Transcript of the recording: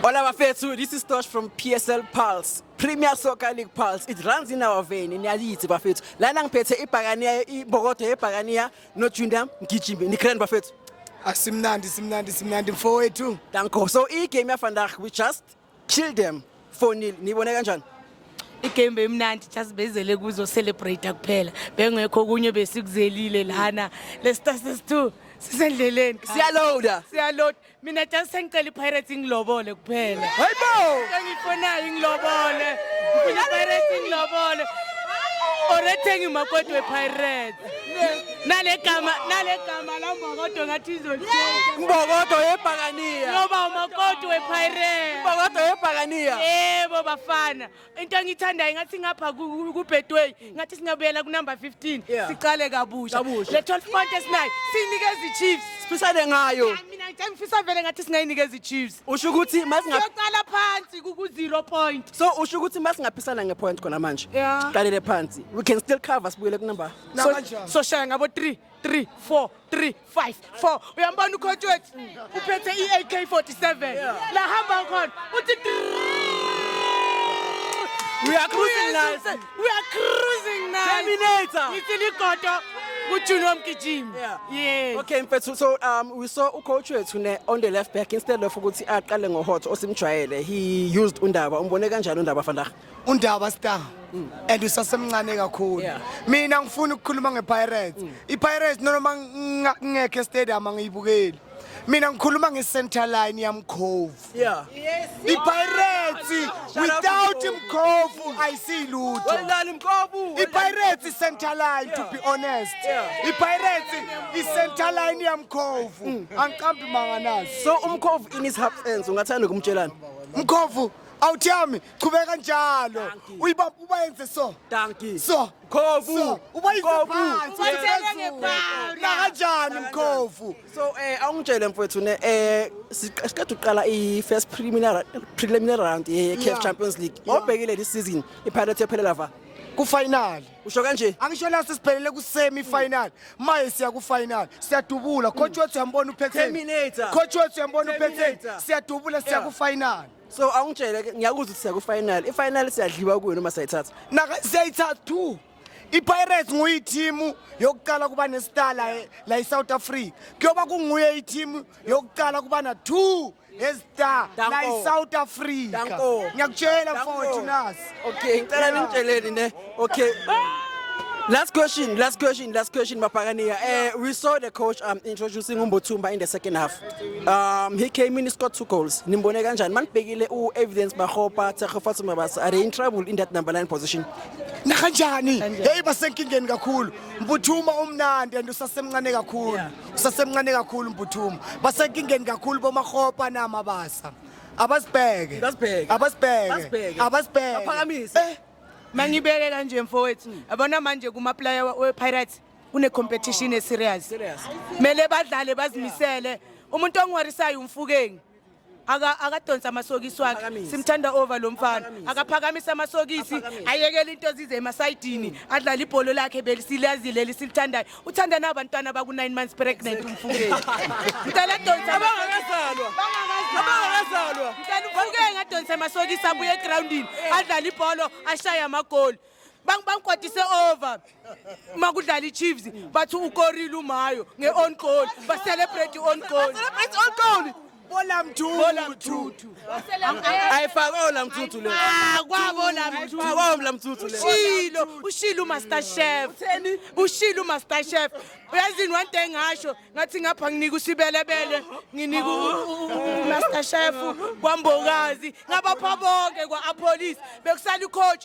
Hola bafethu, this is Tosh from PSL Pulse. Premier Soccer League Pulse. It runs in our vein in Yalithi bafethu. Lana ngiphethe ibhakaniya ibokodo yebhakaniya no Junior Mgijimbe. Ni grand bafethu. Asimnandi simnandi simnandi mfowethu. Danko. So i game ya vandag we just kill them 4-0. Nibone kanjani? igame beyimnandi just bezele kuzo celebrate kuphela bengekho okunye besikuzelile lana lesitase two sisendleleni siyaloada siyaloada mina just sengicela ipirates ingilobole kuphela engiyifonayo ingilobole ngifuna ipirates ingilobole orethenga imakoti wepirates nale gama nale gama la mbokodo ngathi izolithenga mbokodo yebhakaniya ngoba umakoti wepirates mbokodo yebhakaniya yebo bafana into engiyithandayo ngathi ngapha kubedway ngathi singabuyela kunumber 15 Yeah. siqale kabusha Kabusha. le 12 point esinayo siyinikeza ichiefs siphisane ngayo Hayi, mina ngithe ngifisa vele ngathi singayinikeza ichiefs usho ukuthi masinga siyocala phansi kuku-zero point so usho ukuthi masingaphisana ngepoint khona manje Yeah. siqalele phansi we can still cover sibuyele kunumber So- soshaya ngabo 3 3 4 3 5 4 uyambona ucoach wethu uphethe i-AK47 la hamba khona uthi We are cruising nice. We are cruising nice. Terminator. Ngithi ligodo kujuni womgijimi. Yeah. Yes. Okay mfethu so um we saw ucoach wethu ne on the left back instead of ukuthi aqale ngohot osimjwayele he used undaba umbone kanjani undaba fandaga undaba star mm. and usasemncane kakhulu mina ngifuna ukukhuluma ngepirates mm. ipirates noma ngingekho estadium angiyibukeli mina ngikhuluma nge-center line yamkhovu yeah. yes. ipirates without mkhovu ayisiyilutho ipirates center line to be honest yeah. ipirates i-center line yamkhovu mm. angiqambi manga nazo so umkhovu in his half ends ungathanda ukumtshelana mkhovu awuthiyami qhubeka njalo Dankie. uyibaba ubayenze so Dankie. so Mkhovu. so ubayise Mkhovu. phansi Ubayisele ngebala. nakanjani mkhovu So eh awungitshele mfowethu ne eh siq- siqeda uqala i first preliminary preliminary round ye CAF Yeah. Champions League. Yeah. Obhekile this season iPirates yophelela va. kufinali Usho kanje? angisho la sesiphelele kusemi final maye siya kufinal siyadubula coach wethu uyambona uphetheni Terminator. coach wethu uyambona uphetheni Terminator. siyadubula siya Yeah. kufinal so awungitshele ke ngiyakuzwa ukuthi siya ku-final i-final siyadliwa kuyo noma sayithatha naka siyayithatha two ipirates nguyithimu yokuqala kuba nestar la, la isouth africa kuyoba kunguye ithimu yokuqala kuba na-two estar la Danko. isouth africa Danko. ngiyakutshela Danko. mfowethu nasi okay ngicela ningitsheleni ne Okay. Last question, last question, last question, Mapagania. Uh, eh, we saw the coach um, introducing Umbotumba in the second half. Um, he came in, he scored two goals. Nimbone kanjani? Manibhekile u evidence Bahopa, Tsekhofatu Mabasa. Are they in trouble in that number 9 position? Nakanjani? Hey basenkingeni kakhulu. Mbuthuma umnandi and usasemncane kakhulu. Usasemncane kakhulu Mbuthuma. Basenkingeni kakhulu bomahopa na Mabasa. Abasibheke. Abasibheke. Abasibheke. Abasibheke. Aphakamise. Eh? mangibeke kanje mfowethu hmm. yabona manje kumaplaya wepirates kune-competition eserious kumele badlale bazimisele umuntu ongiwarisayo umfukeni akadonsa amasokisi wakhe simthanda over lo mfana akaphakamise amasokisi ayekele into ezize emasayidini adlale ibholo lakhe besilazile lisilithandayo uthanda na abantwana baku 9 months pregnant umfukeni ngicela adonse abangakazalwa abangakazalwa ngicela umfukeni adonse amasokisi abuye egroundini adlale ibholo ashaye amagoli bangikwatise over uma kudlala ichiefs bathi ukorile umayo nge-on goal bacelebrate i-on goal Bola mthuthu. Bola mthuthu. Ayifake ola mthuthu le. Ah, kwabola mthuthu. Ayifake ola mthuthu le. Ushilo, ushilo uMaster Chef. Ushilo uMaster Chef. Uyazini one day ngasho ngathi ngapha nginika usibelebele, nginika uMaster Chef kwambokazi, ngabapha bonke kwa-apolice bekusala icoach